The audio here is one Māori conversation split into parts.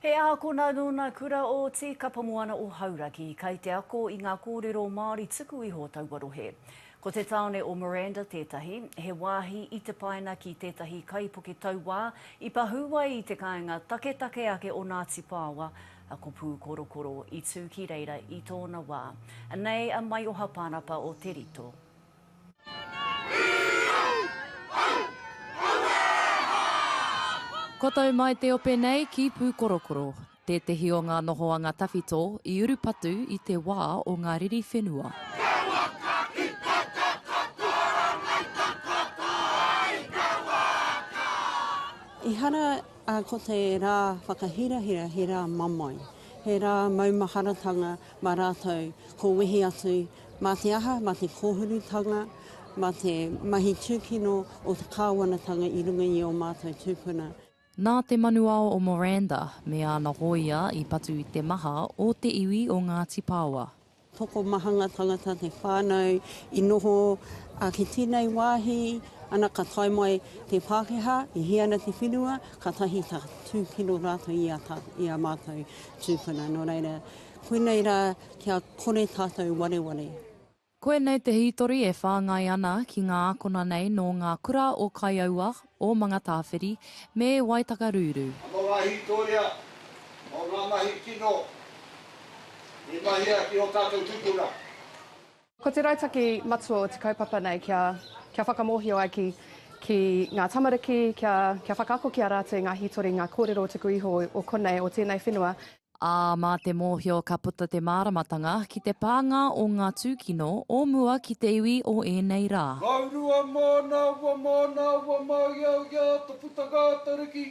He ākona nō nā Kura o Tīkapamoana o Hauraki, kai te ako i ngā kōrero Māori tuku iho taua rohe. Ko te tāone o Miranda tētahi, he wāhi i te paina ki tētahi kaipuke tauā i pahū ai i te kāinga taketake ake o Ngāti Pāoa, a Ko Pūkorokoro, i tū ki reira i tōna wā. Anei a Maioha Pānapa o Te Rito. Kotou mai te ope nei ki Pūkorokoro, tētehi o ngā nohoanga tawhito i urupatu i te wā o ngā riri whenua. Ehara ko te rā whakahirahira he rā mamae, he rā maumaharatanga, Mā rātou ko wehi atu mā te aha, mā te kōhurutanga, mā te mahi tūkino o te kāwanatanga i runga i ō mātou tūpuna. Nā te manuao o Miranda me āna hōia i patu i te maha o te iwi o Ngāti Paoa. Tokomahanga tangata te whānau i noho, ā, ki tēnei wāhi, ana ka tae mai te Pākehā, i hia ana te whenua, kātahi ka tūkino rātou i a mātou. Tūpuna, nō reira, koinei rā kia kore tātou wareware. Koinei te hītori e whāngai ana ki ngā ākona nei nō ngā kura o Kaiaua, o Mangatāwhiri, me Waitakarūrū. Mō ngā hītoria, mō ngā mahi kino i mahia ki ō tātou tūpuna. Ko te rautaki matua o te kaupapa nei kia whakamōhio ai ki ngā tamariki, kia whakaako ki a rātou i ngā hītori, ngā kōrero o tuku iho, o konei, o tēnei whenua. Ā, mā te mōhio ka puta te māramatanga ki te pānga o ngā tūkino o mua ki te iwi o ēnei rā. Waurua mōna, ua mōna, ua māiaia, toputanga, taruki,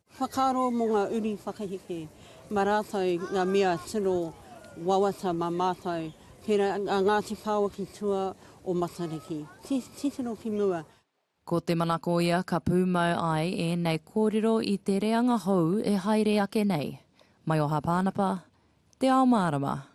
Whakaaro mō ngā uri whakaheke mā rātou ngā mea tino wawata mā mātou, tērā a Ngāti Whaoa ki tua o Matariki, titiro ki mua. Ko te manako ia ka pūmau ai ēnei kōrero i te reanga hou e haere ake nei. Maioha Pānapa, Te Ao Mārama.